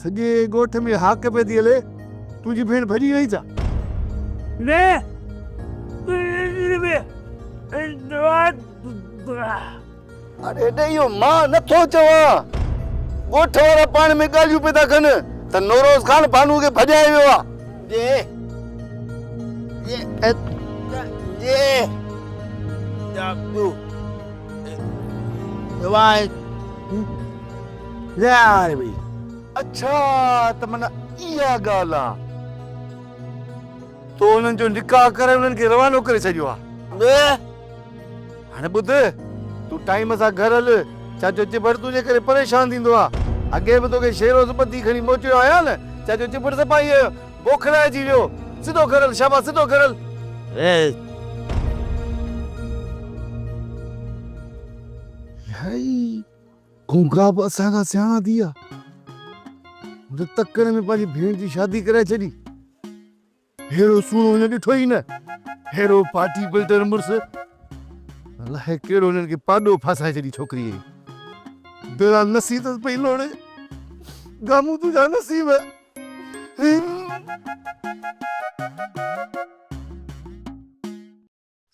سڄي ڳوٺ ۾ هاڪ پئي ٿي هلي، تنهنجي ڀيڻ ڀڄي وئي ڇا؟ نه، تنهنجي ڀيڻ دعا. اڙي هيڏي اهو مان نه ٿو چوان. ڳوٺ وارا پاڻ ۾ ڳالهيون پئي ٿا ڪن ته نوروز خان بانوء کي ڀڄائي ويو آهي. جي جي جاکو دعا. لاء ويئي. اڇا ته معنيٰ اها ڳالهه آ. تو انهن جو نڪاح ڪرائي انهن کي روانو ڪري ڇڏيو آ. ٻيء هاڻي ٻڌ، تون ٽائيم سان گهر هل. چاچو چٻڙ تنهنجي ڪري پريشان ٿيندو آ. اڳي به توکي شيروز ٻڌي کڻي موٽيو آهيان نه. چاچو چٻڙ سپاهيء جو بوکلائجي ويو. سڌو گهر هل شاباس سڌو گهر هل. لاء ويئي. کونکا به اسان کان سياڻا ٿي ويا. هن ته تڪڙ ۾ پنهنجي ڀيڻ جي شادي ڪرائي ڇڏي. ههڙو سهڻو هن ڏٺو ئي نه. ههڙو پارٽي بلڊر مڙس. الائي ڪهڙو هنن کي پاڏو ڦاسائي ڇڏي ڇوڪريء جي. دلان نسي اٿس پئي لوڙي. گامون تنهنجا نصيب هي.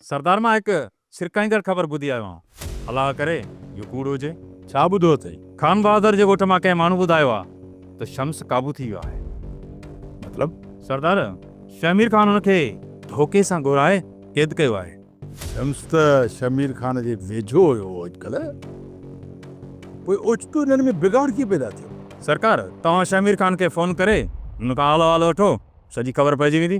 سردار مان هڪ ڇرڪائيندڙ خبر ٻڌي آيو آهيان. الله ڪري اهو ڪوڙ هجي. ڇا ٻڌو اٿئي؟ خان بهادر جي ڳوٺ مان ڪنهن ماڻهو ٻڌايو آهي ته شمس قابو ٿي ويو آهي. مطلب؟ سردار، شهمير خان هن کي ڌوڪي سان گهرائي قيد ڪيو آهي. شمس ته شهمير خان جي ويجهو هيو اڄڪلهه پوء اوچتو انهن ۾ بگاڙ ڪيئن پيدا ٿيو؟ سرڪار، توهان شهمير خان کي فون ڪري هن کان حال احوال وٺو، سڄي خبر پئجي ويندي.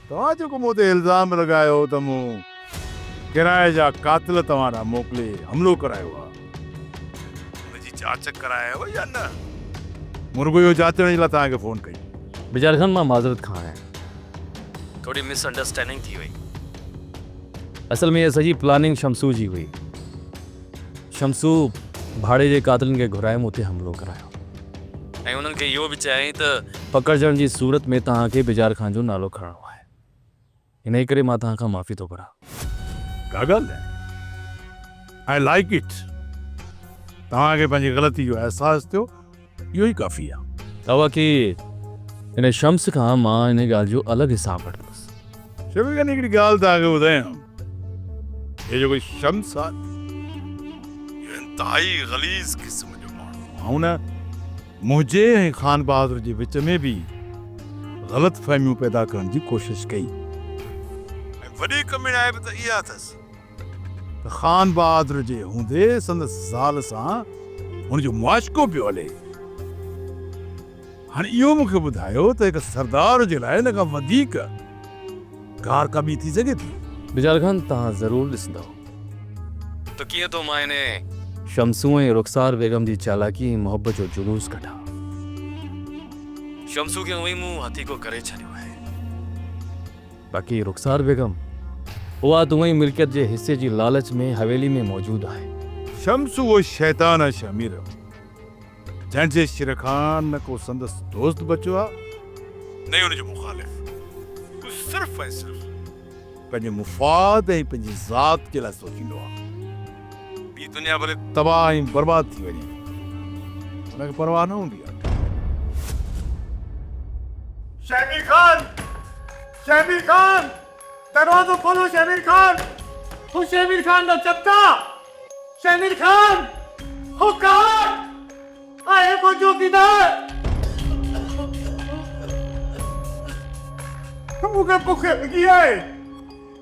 توهان جيڪو مون تي الزام لڳايو ته مون ڪرائي جا قاتل توهان ڏانهن موڪلي حملو ڪرايو آهي، ان جي جاچ ڪرائي هئي يا نه؟ مون رڳو اهو جاچڻ جي لاء توهان کي فون ڪئي. بجار خان مان معذرت کان آهيان. ٿوري مس انڊرسٽينڊنگ ٿي وئي. اصل ۾ هيء سڄي پلاننگ شمسو جي هئي. شمسو ڀاڙي جي قاتلن کي گهرائي مون تي حملو ڪرايو ۽ انهن کي اهو به چيائين ته. پڪڙجڻ جي صورت ۾ توهان کي بجار خان جو نالو کڻڻو آهي. انهيء ڪري مان توهان کان معافي ٿو گهران. ڪا ڳالهه ناهي. I like it. توهان کي پنهنجي غلطي جو احساس ٿيو. اهو ئي ڪافي آ. توهان کي ان شمس کان مان ان ڳالهه جو الڳ حساب وٺندس. شمس جان هڪڙي ڳالهه توهان کي ٻڌايان. هي جيڪو شمس آ نه اهو انتهائي غليظ قسم جو ماڻهو آ. هن منهنجي ۽ خان بهادر جي وچ ۾ به غلط فهميون پيدا ڪرڻ جي ڪوشش ڪئي ۽ وڏي ڪميڻائي به ته اها اٿس. ته خان بهادر جي هوندي سندس زال سان هن جو معاشقو پيو هلي. هن اهو مون کي ٻڌايو ته هڪ سردار جي لاء ان کان وڌيڪ گار ڪابي ٿي سگهي ٿي. بجال خان توهان ضرور ڏسندؤ ته ڪيئن ٿو مان انهيء شمسو ۽ رخسار بيگم جي چالاڪي ۽ محبت جو جلوس ڪڍان. شمسو کي اونئين مون هٿيڪو ڪري ڇڏيو آهي. باقي رخسار بيگم اها دوئين ملڪيت جي حصي جي لالچ ۾ حويلي ۾ موجود آهي. شمس اهو شيطان آهي شهمير جنهن جي شر کان نه ڪو سندس دوست بچيو آهي نه ئي ان جو مخالف. هو صرف ۽ صرف پنهنجي مفاد ۽ پنهنجي ذات جي لاء سوچيندو آهي. ٻي دنيا ڀلي تباهه ۽ برباد ٿي وڃي هن کي پرواهه نه هوندي آهي. شهبي خان! شهبي خان! دروازو کولو شهبي خان! هو شهبي خان جا چپٽا! شهبي خان! هو ڪار! آهي ڪو چوڪيدار! مون کي بک لڳي آهي!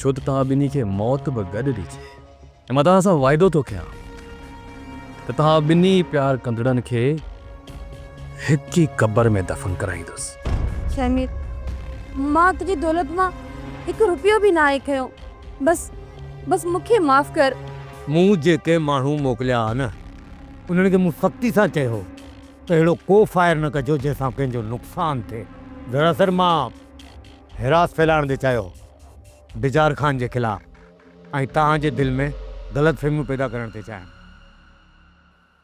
ڇو ته توهان ٻنهي کي موت به گڏ ڏجي. ۽ مان توهان سان وعدو ٿو ڪيان ته توهان ٻنهي پيار ڪندڙن کي هڪ ئي قبر ۾ دفن ڪرائيندس. شهمير، مان تنهنجي دولت مان هڪ روپيو به ناهي کنيو. بس، بس مون کي معاف ڪر. مون جيڪي ماڻهو موڪليا ها نه، انهن کي مون سختي سان چيو هو ته اهڙو ڪو فائر نه ڪجو جنهن سان ڪنهن جو نقصان ٿئي. دراصل مان هراس ڦهلائڻ جي چاهيو ڊجار خان جي خلاف ۽ توهان جي دل ۾ غلط فهميون پيدا ڪرڻ ٿي چاهين.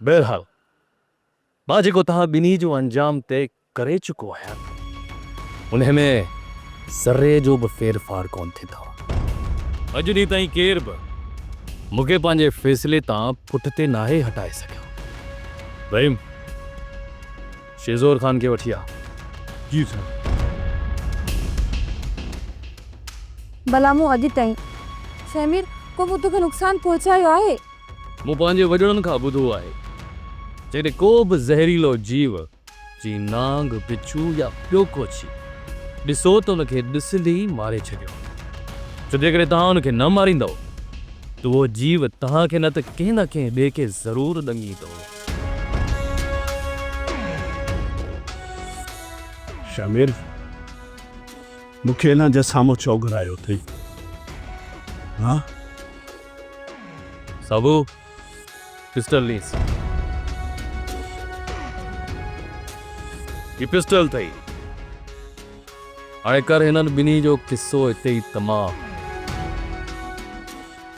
بهرحال مان جيڪو توهان ٻنهي جو انجام طئي ڪري چڪو آهيان انهي ۾ ذري جو به ڦير ڦار ڪونه ٿيندو. اڄ ڏينهن تائين ڪير به مون کي پنهنجي فيصلي تان پٺتي ناهي هٽائي سگهيو. رحيم! شيزور خان کي وٺي آ. جي سر. ڀلا مون اڄ تائين شهمير ڪو به توکي نقصان پهچايو آهي؟ مون پنهنجي وڏڙن کان ٻڌو آهي جيڪڏهن ڪو به زهريلو جيو جيئن نانگ، بڇو يا ٻيو ڪو ڇي ڏسو ته ان کي ڏسندي ئي ماري ڇڏيو ڇو جيڪڏهن توهان ان کي نه ماريندؤ ته اهو جيو توهان کي نه ته ڪنهن نه ڪنهن ٻئي کي ضرور ڏنگيندو. شمير مون کي ان جي سامهون ڇو گهرايو اٿئي؟ ها؟ سوڀو، پسٽل نيس. هي پسٽل اٿئي. هاڻي ڪر هنن ٻنهي جو قصو هتي ئي تمام.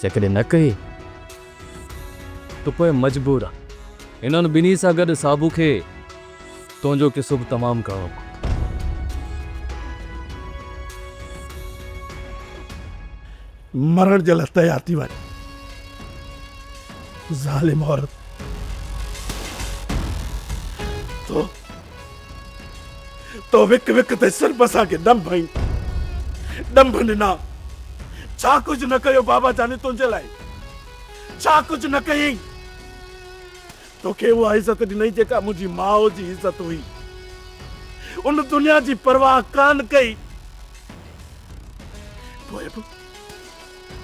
جيڪڏهن نه ڪئي. ته پوء مجبور آهي هنن ٻنهي سان گڏ صابو کي تنهنجو قصو به تمام ڪرڻو پوندو. مرڻ جي لاء تيار ٿي وڃ ظالم عورت. تو تو وڪ وڪ تي صرف اسان کي ڏنڀ ۽ ڏنڀ ڏنا. ڇا ڪجهه نه ڪيو بابا جاني تنهنجي لاء؟ ڇا ڪجهه نه ڪيئين؟ توکي اها عزت ڏنئي جيڪا منهنجي ماء جي عزت هئي. ان دنيا جي پرواهه ڪانه ڪئي. پوء به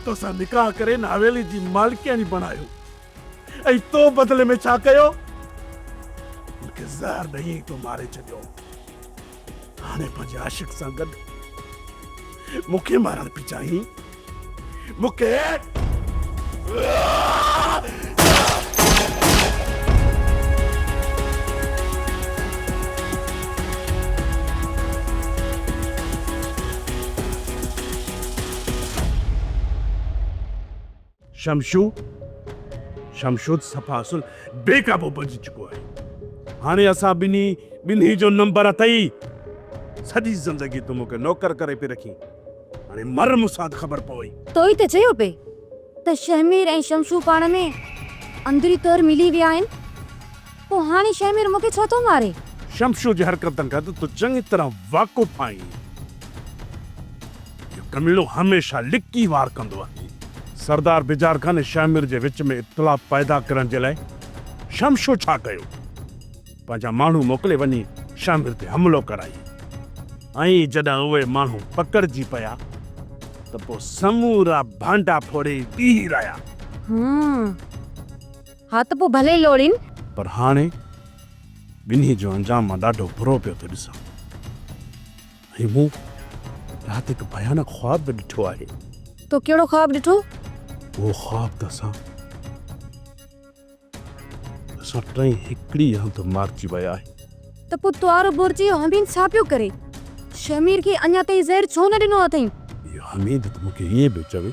توسان نڪاح ڪري ان حويلي جي مالڪياڻي بڻايو. ۽ تو بدلي ۾ ڇا ڪيو؟ مون کي زهر ڏئي ۽ تو ماري ڇڏيو. هاڻي پنهنجي عاشق سان گڏ مون کي مارڻ پئي چاهين؟ مون کي. شمشو، شمشو ته صفا اصل بي قابو بنجي چڪو آهي. هاڻي اسان ٻنهي، ٻنهي جو نمبر اٿئي. سڄي زندگي تون مون کي نوڪر ڪري پئي رکين. هاڻي مر مون سان ته خبر پوي. تو ئي ته چيو پئي ته شهمير ۽ شمشو پاڻ ۾ اندري طور ملي ويا آهن. پوء هاڻي شهمير مون کي ڇو ٿو ماري؟ شمشو جي حرڪتن کان ته تون چڱي طرح واقف آهين. اهو ڪميڻو هميشه لڪي وار ڪندو آهي. سردار بجار خان ۽ شهمير جي وچ ۾ اختلاف پيدا ڪرڻ جي لاء شمشو ڇا ڪيو؟ پنهنجا ماڻهو موڪلي وڃي شهمير تي حملو ڪرائي ۽ جڏهن اهي ماڻهو پڪڙجي پيا ته پوء سمورا ڀانڊا ڦوڙي بيهي رهيا. هو ها ته پوء ڀلي لوڙين. پر هاڻي ٻنهي جو انجام مان ڏاڍو برو پيو ٿو ڏسان ۽ مون رات هڪ ڀيانڪ خواب به ڏٺو آهي. تو ڪهڙو خواب ڏٺو؟ اهو خواب ته اسان اسان ٽئي هڪڙي هنڌ مارجي ويا آهيون. ته پوء توارو بورچي اهو حميد ڇا پيو ڪري؟ شهمير کي اڃا تائين زهر ڇو نه ڏنو اٿئين؟ اهو حميد ته مون کي ائين پيو چوي.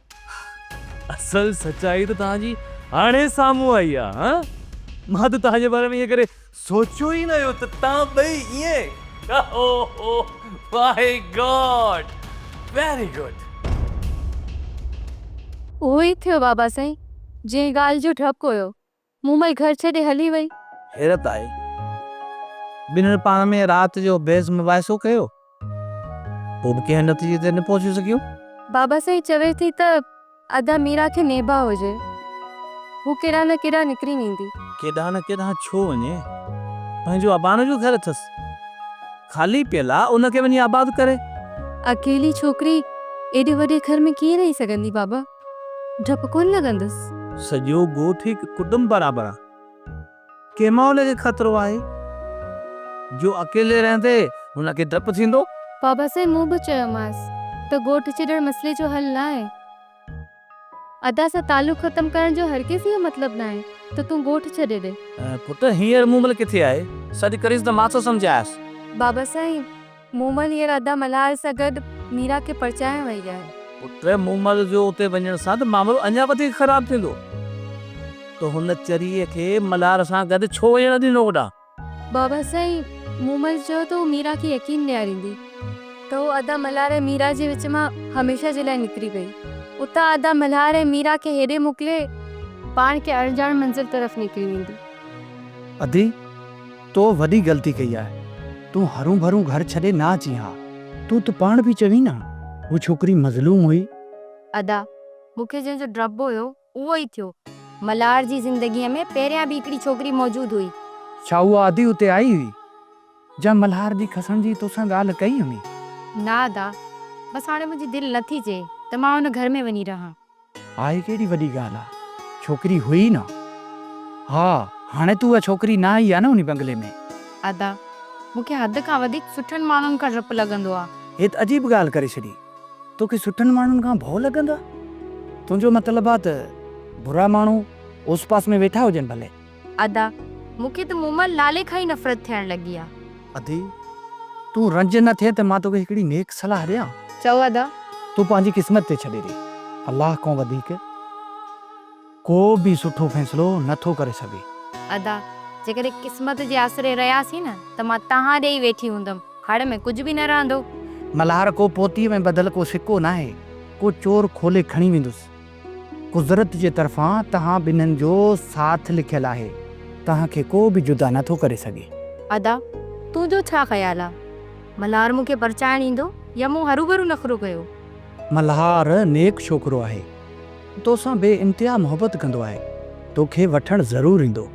اصل سچائي ته توهان جي هاڻي سامهون آئي آ ها مان ته توهان جي باري ۾ ايئن ڪڏهن سوچيو ئي نه هيو ته توهان ٻئي ايئن اوهو مائي گاڊ ويري گڊ. اهو ئي ٿيو بابا سائين جنهن ڳالهه جو ڊپ هيو مومل گهر ڇڏي هلي وئي. حيرت آئي. ٻنهن پاڻ ۾ رات جو بحث مباحثو ڪيو. پوء به ڪنهن نتيجي تي نه پهچي سگهيو. بابا سائين چوي ٿي ته ادا ميرا کي نيبا هجي. هو ڪيڏانهن نه ڪيڏانهن نڪري ويندي. ڪيڏانهن نه ڪيڏانهن ڇو وڃي. پنهنجو اباڻ جو گهر اٿس. خالي پيل آ. ان کي وڃي آباد ڪري. اڪيلي ڇوڪري ايڏي وڏي گهر ۾ ڪيئن رهي سگهندي بابا. ڊپ ڪونه لڳندس. سڄو ڳوٺ هڪ ڪٽنب برابر آ. ڪنهن ماحول کي خطرو آهي؟ جو اڪيلي رهندي هن کي ڊپ ٿيندو. بابا سائين مون به چيومانس ته ڳوٺ ڇڏڻ مسئلي جو حل ناهي. ادا سان تعلق ختم ڪرڻ جو هر ڪيس اهو مطلب ناهي ته تون ڳوٺ ڇڏي ڏي. پٽ هينئر مومل ڪٿي آهي؟ سڏ ڪريس ته مان ٿو سمجهايس. بابا سائين مومل هينئر ادا ملهار سان گڏ ميرا کي پرچائڻ وئي آهي. پٽ مومل جو اتي وڃڻ سان ته معاملو اڃا وڌيڪ خراب ٿيندو ته هن چريء کي ملهار سان گڏ ڇو وڃڻ ڏنو هوڏانهن؟ بابا سائين، مومل چيو ته هو ميرا کي يقين ڏياريندي ته هو ادا ملهار ۽ ميرا جي وچ مان هميشه جي لاء نڪري وئي. اتان ادا ملهار ۽ ميرا کي هيڏي موڪلي پاڻ ڪنهن اڻڄاڻ منزل طرف نڪري ويندي. ادي! تو وڏي غلطي ڪئي آهي. تون هرون ڀرون گهر ڇڏي نه اچين ها. تون ته پاڻ به چوين ها هو ڇوڪري مظلوم هئي. ادا، مون کي جنهن جو ڊپ هيو اهو ئي ٿيو. ملهار جي زندگيء ۾ پهريان به هڪڙي ڇوڪري موجود هئي. ڇا اها ادي اتي آئي هئي جنهن ملهار جي کسڻ جي توسان ڳالهه ڪئي هئي؟ نه ادا، بس هاڻي منهنجي دل نه ٿي چئي ته مان ان گهر ۾ وڃي رهان. ها هي ڪهڙي وڏي ڳالهه آ ڇوڪري هئي ئي نه. ها هاڻي تون اها ڇوڪري نه آئي آ نه انهي بنگلي ۾. ادا مون کي حد کان وڌيڪ سٺن ماڻهن کان ڊپ لڳندو آ. هي ته عجيب ڳالهه ڪري ڇڏي. توکي سٺن ماڻهن کان ڀؤ لڳندو آ. تنهنجو مطلب آ ته برا ماڻهو اوس پاس ۾ ويٺا هجن ڀلي. ادا، مون کي ته مومل نالي کان ئي نفرت ٿيڻ لڳي آ. ادي، تون رنج نه ٿي ته مان توکي هڪڙي نيڪ صلاح ڏيان؟ چئو ادا. تون پنهنجي قسمت تي ڇڏي ڏي. الله کان وڌيڪ ڪو به سٺو فيصلو نه ٿو ڪري سگهي. ادا، جيڪڏهن قسمت جي آسري رهياسين نه ته مان تهان ڏي ئي ويٺي هوندم. هڙ ۾ ڪجهه به نه رهندو. ملهار ڪو پوتيء ۾ ٻڌل ڪو سڪو ناهي، ڪو چور کولي کڻي ويندس. قدرت جي طرفان توهان ٻنهن جو ساٿ لکيل آهي، توهان کي ڪو به جدا نه ٿو ڪري سگهي. ادا، تنهنجو ڇا خيال آ؟ ملهار مون کي پرچائڻ ايندو يا مون هروڀرو نخرو ڪيو؟ ملهار نيڪ ڇوڪرو آهي، توسان بي انتها محبت ڪندو آهي، توکي وٺڻ ضرور ايندو.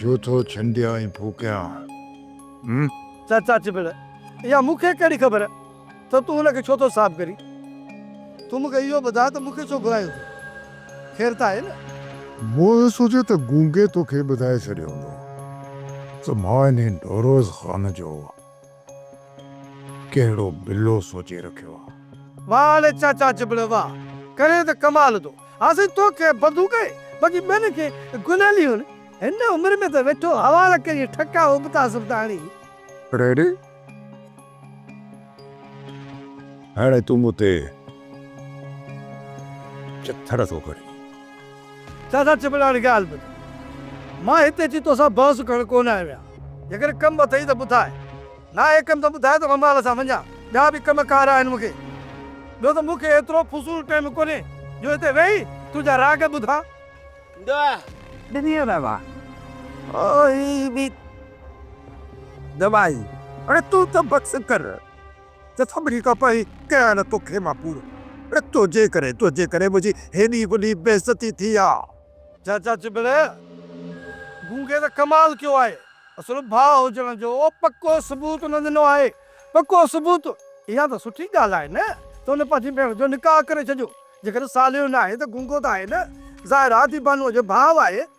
جو ٿو ڇنڊيان ۽ ڦوڪيان ھمم. چاچا چٻڙ، اھا مون کي ڪھڙي خبر تھ تون ان کي ڇو ٿو صاف ڪرين. تون مون کي اھو ٻڌاء تھ مون کي ڇو گھرايو اٿين. خير تھ آھي نھ. مون اھو سوچيو تھ گونگي تو کي ٻڌائي ڇڏيو ھوندو تھ مان انھي ڍوروز خان جو ڪهڙو بلو سوچي رکيو آ. واھ علي چاچا جبڙ واھ ڪرين ته ڪمال ٿو ها سائين توکي بندو ڪئي باقي ٻين کي گليلي هن هن عمر ۾ ته ويٺو حوالا ڪري ٺڪا ابتا سبتا هڻي. ريڊي هاڻي تون مون تي چٿر ٿو ڪرين. دادا چيپڙ هاڻي ڳالهه ٻڌ. مان هتي اچي توسان بحث ڪرڻ ڪونه آيو آهيان. جيڪڏهن ڪم اٿئي ته ٻڌاء. ناهي ڪم ته ٻڌاء ته مان مال سان وڃان. ٻيا به ڪم ڪار آهن مون کي. ٻيو ته مون کي ايترو فضول ٽيم ڪونهي جو هتي ويهي تنهنجا راڳ ٻڌان. دعا ڏني هو بابا. او هي به دعا ئي. هاڻي تون ته بس ڪر. ته سڀني کان پهرين ڪيان نه توکي مان پورو. تنهنجي ڪري، تنهنجي ڪري منهنجي هيڏي وڏي بيعزتي ٿي آ. چاچا چٻڙي گونگي ته ڪمال ڪيو آهي. اصل ڀاء هجڻ جو پڪو ثبوت نه ڏنو آهي. پڪو ثبوت؟ اها ته سٺي ڳالهه آهي نه ته هن پنهنجي ڀيڻ جو نڪاح ڪري ڇڏيو. جيڪڏهن ساليو ناهي ته گونگو ته آهي نه. ظاهر آ ته هي بانوء جو ڀاء آهي.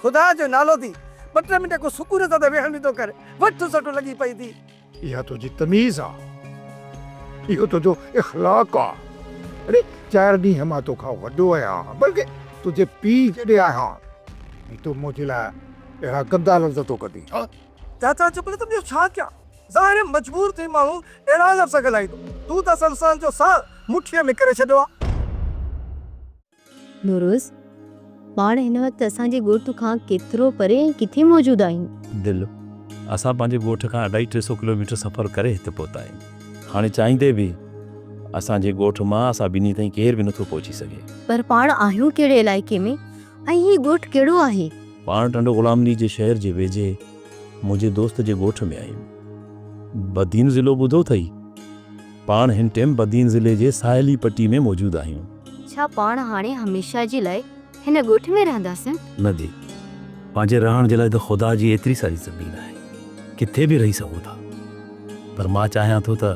خدا جو نالو ٿي ٻه ٽي منٽ ڪو سڪون سان ته ويهڻ به ٿو ڪر. وٺ سٽ لڳي پئي ٿي. اها تنهنجي تميز آ. اهو تنهنجو اخلاق آ. اڙي چار ڏينهن مان تو کان وڏو آهيان بلڪ تنهنجي پيء جيڏي آهيان ۽ تون منهنجي لاء اهڙا گندا لفظ ٿو ڪڍين ها. چاچا چپ نه ته ٻيو ڇا ڪيان. ظاهر مجبور ٿي ماڻهو اهڙا لفظ ڳالهائيندو. تون ته اصل انسان جو ساهه مٺيء ۾ ڪري ڇڏيو آ. نوروز، پاڻ هن وقت اسان جي ڳوٺ کان ڪيترو پري ۽ ڪٿي موجود آهيون؟ دل، اسان پنهنجي ڳوٺ کان اڍائي ٽي سئو ڪلوميٽر سفر ڪري هت پهتا آهيون. هاڻي چاهيندي به اسان جي ڳوٺ مان اسان ٻنهي تائين ڪير به نٿو پهچي سگهي. پر پاڻ آهيون ڪهڙي علائقي ۾؟ ۽ هي ڳوٺ ڪهڙو آهي؟ پاڻ ٽنڊو غلام علي جي شهر جي ويجهي منهنجي دوست جي ڳوٺ ۾ آهيون. بدين ضلعو ٻڌو اٿئي؟ پاڻ هن ٽيم بدين ضلعي جي ساحلي پٽي ۾ موجود آهيون. ڇا پاڻ هاڻي هميشه جي لاء هن ڳوٺ ۾ رهنداسين؟ نه جي. پنهنجي رهڻ جي لاء ته خدا جي ايتري ساري زمين آهي. ڪٿي به رهي سگهون ٿا. پر مان چاهيان ٿو ته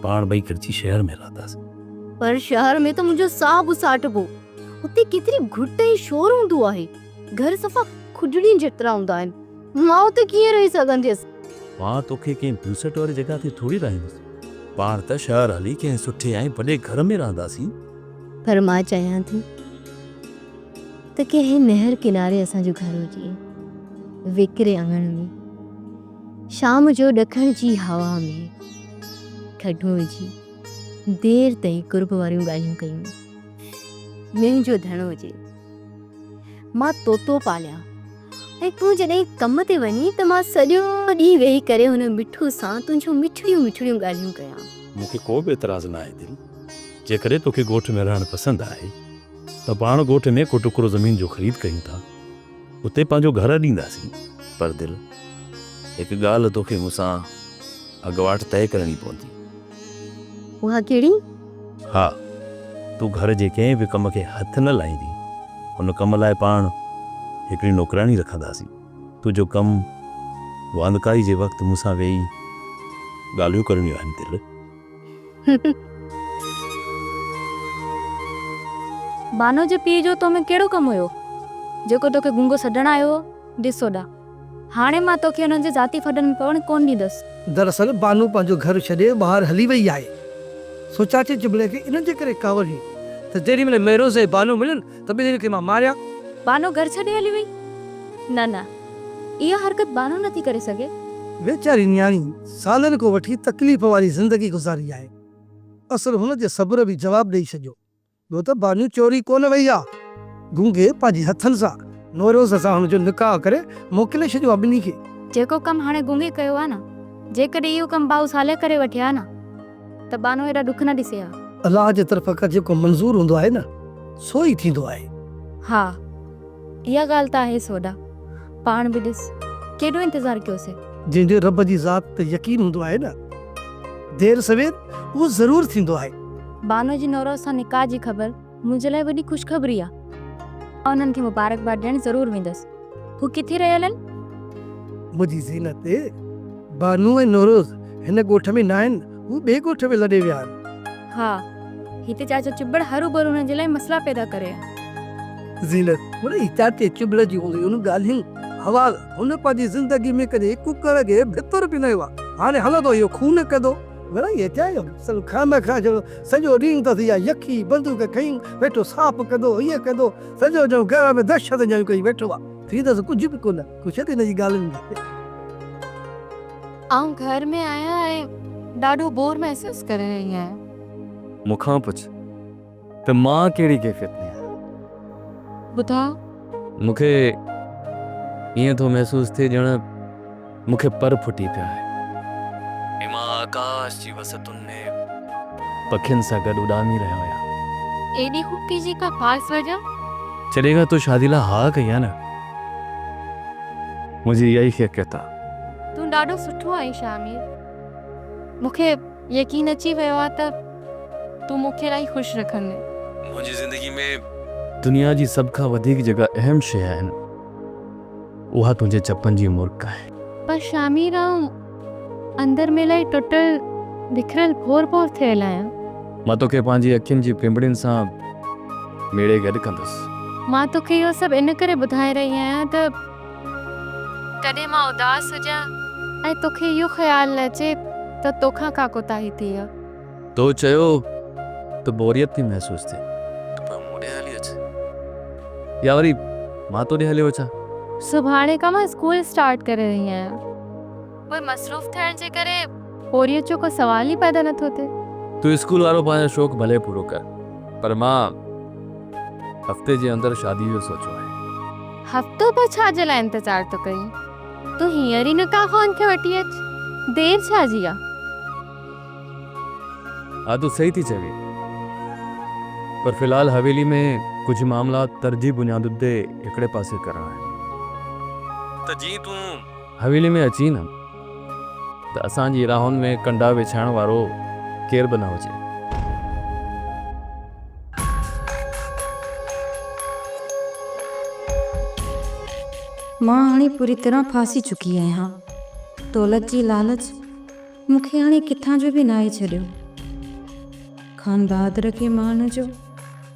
پاڻ ٻئي گڏجي شهر ۾ رهنداسين. پر شهر ۾ ته منهنجو ساهه به ساٽبو. اتي ڪيتري گهٽ ۽ شور هوندو آهي. گهر صفا کجڙين جيترا هوندا آهن. مان اتي ڪيئن رهي سگهنديس. مان توکي ڪنهن بيوسٽ واري جڳهه تي ٿوري رهائيندس. پاڻ ته شهر هلي ڪنهن سٺي ۽ وڏي گهر ۾ رهنداسين. پر مان چاهيان ٿي ته ڪنهن نهر ڪناري اسان جو گهر هجي. ويڪري اڱڻ ۾، شام جو ڏکڻ جي هوا ۾، کٽون وجهي، دير تائين قرب واريون ڳالهيون ڪيون. منهنجو ڌڻ هجي. مان طوطو پاليان ۽ تون جڏهن ڪم تي وڃين ته مان سڄو ڏينهن ويهي ڪري هن مٺو سان تنهنجون مٺڙيون مٺڙيون ڳالهيون ڪيان. مون کي ڪو به اعتراض نه آهي دل. جيڪڏهن توکي ڳوٺ ۾ رهڻ پسند آهي ته پاڻ ڳوٺ ۾ ڪو ٽڪرو زمين جو خريد ڪيون ٿا. اتي پنهنجو گهر اڏينداسين. پر دل هڪ ڳالهه توکي مون سان اڳواٽ طئي ڪرڻي پوندي. اها ڪهڙي؟ ها، تون گهر جي ڪنهن به ڪم کي هٿ نه لائيندين. ان ڪم لاء پاڻ هڪڙي نوڪراڻي رکنداسين. تنهنجو ڪم واندڪائي جي وقت مون سان ويهي ڳالهيون ڪرڻيون آهن دل. بانو جي پيء جو تو ۾ ڪهڙو ڪم هيو، جيڪو توکي گونگو سڏڻ آيو هو؟ ڏس هوڏانهن. هاڻي مان توکي انهن جي ذاتي ڦڏن ۾ پوڻ ڪونه ڏيندس. دراصل بانو پنهنجو گهر ڇڏي ٻاهر هلي وئي آهي سو چاچي چٻڙي کي انهن جي ڪري ڪاوڙ هئي ته جيڏي مهل ميروز ۽ بانو ملن ته ٻنهي کي مان ماريان. بانو گهر ڇڏي هلي وئي؟ نه نه اها حرڪت بانو نٿي ڪري سگهي. ويچاري نياڻي سالن کان وٺي تڪليف واري زندگي گذاري آهي. اصل هن جي صبر به جواب ڏئي ڇڏيو. ٻيو ته بانو چوري ڪونه وئي آ. گونگي پنهنجي هٿن سان نوروز سان هن جو نڪاح ڪري موڪلي ڇڏيو آ ٻنهي کي. جيڪو ڪم هاڻي گونگي ڪيو آ نه، جيڪڏهن اهو ڪم ڀائو صالح ڪري وٺي ها نه ته بانو ايڏا ڏک نه ڏسي ها. الله جي طرفان ڪا جيڪو منظور هوندو آهي نه سو ئي ٿيندو آهي. ها اها ڳالهه ته آهي سوڍا. پاڻ به ڏس ڪيڏو انتظار ڪيوسين. جنهن جو رب جي ذات تي يقين هوندو آهي نه دير سوير اهو ضرور ٿيندو آهي. بانو جي نورو سان نڪاح جي خبر منهنجي لاء وڏي خوشخبري آهي. مان انهن کي مبارڪباد ڏيڻ ضرور ويندس. هو ڪٿي رهيل آهن؟ منهنجي زينت، بانو ۽ نوروز هن ڳوٺ ۾ ناهن. هو ٻئي ڳوٺ به لڏي ويا آهن. ها. هتي چاچو چٻڙ هروڀرو هنن جي لاء مسئلا پيدا ڪري ها. زينت، هن ئي چاچي چٻڙ جي انهن ڳالهين حوال هن پنهنجي زندگي ۾ ڪڏهن ڪڪڙ جي ڀتر به نه ويو آهي. هاڻي هلندو اهو خون ڪندو. مڙئي هيٺاهين سن خامخا ڄڻ سڄو ڏينهن اندس اها يخي بندوق کنئي ويٺو صاف ڪندو هيء ڪندو. سڄو ڄڻ گهر ۾ دهشت ڄڻيون ڪئي ويٺو آهي. زينت، ڪجهه به ڪونه. ڪو ڇڏ هن جي ڳالهين کي. آئون گهر ۾ آهيان ۽ ڏاڍو بور محسوس ڪري رهي آهيان. مون کان پڇ ته مان ڪهڙي ڪيفيت ۾ آهيان. ٻڌاء. مون کي ائين ٿو محسوس ٿئي ڄڻ مون کي پر ڦٽي پيا آهي ۽ مان آڪاش جي وسعتن ۾ پکين سان گڏ اڏامي رهيو آهيان. ايڏي خوبي جي ڪا خاص وجه؟ جڏهن کان تو شادي لاء ها ڪئي آهي نه منهنجي اها ئي خيقيت آهي. تون ڏاڍو سٺو آهين شاهمير. مون کي يقين اچي ويو آهي ته تون مون کي الائي خوش رکندين. منهنجي زندگي ۾. دنيا جي سڀ کان وڌيڪ جيڪا اهم شيء آهي نه اها تنهنجي چپن جي مرڪ آهي. پر شاهمير آئون اندر ۾ الائي ٽٽل بکريل ڀور ڀور ٿيل آهيان. مان توکي پنهنجي اکين جي پنبڻين سان ميڙي گڏ ڪندس. مان توکي اهو سڀ ان ڪري ٻڌائي رهي آهيان ته. ڪڏهن مان اداس هجان. ۽ توکي اهو خيال نه اچي ته توکان ڪا ڪوتاهي ٿي آ. تو چيو ته بوريت ٿي محسوس ٿئي. ته پوء مون ڏي هلي اچ. يا وري مان تو ڏي هليو اچان. سڀاڻي کان مان اسڪول اسٽارٽ ڪري رهي آهيان. پوء مصروف ٿيڻ جي ڪري. پورهيت جو ڪو سوال ئي پيدا نٿو ٿئي. تون اسڪول وارو پنهنجو شوق ڀلي پورو ڪر پر مان هفتي جي اندر شاديء جو سوچيو آهي. هفتو ٻه ڇا جي لاء انتظار ٿو ڪرين؟ تون هينئر ئي نڪاح خوان کي وٺي اچ. دير ڇا جي آ؟ ها تون صحيح ٿي چوين پر في الحال حويلي ۾ ڪجهه معاملا ترجيح بنياددي هڪڙي پاسي ڪرڻا آهن ته جيئن تون. حويلي ۾ اچين ها ته اسان جي راهن ۾ ڪنڊا وڇائڻ وارو ڪير به نه هجي. مان هاڻي پوري طرح ڦاسي چڪي آهيان. دولت جي لالچ مون کي هاڻي ڪٿان جو به ناهي ڇڏيو. خانبهادر کي مان هن جو.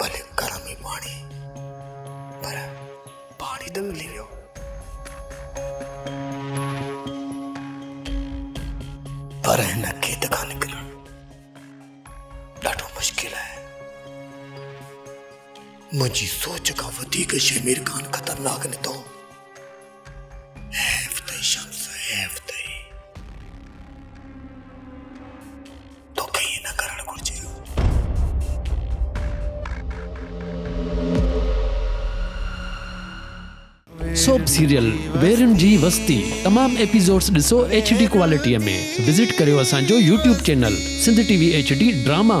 ڀلي گرم ئي پاڻي پر پاڻي ته ملي ويو. پر هن کيت کان نڪرڻ ڏاڍو مشڪل آهي. منهنجي سوچ کان وڌيڪ شيمير خان خطرناڪ نڪتو. حيف تئي شمس حيف تئي. توکي ائين نه ڪرڻ گهرجي هو. سوپ سيريل ويرين جي وستي تمام ايپيسوڊز ڏسو ايڇ ڊي ڪوالٽي ۾ وزٽ ڪريو اسان جو YouTube channel Sindh T V H D drama.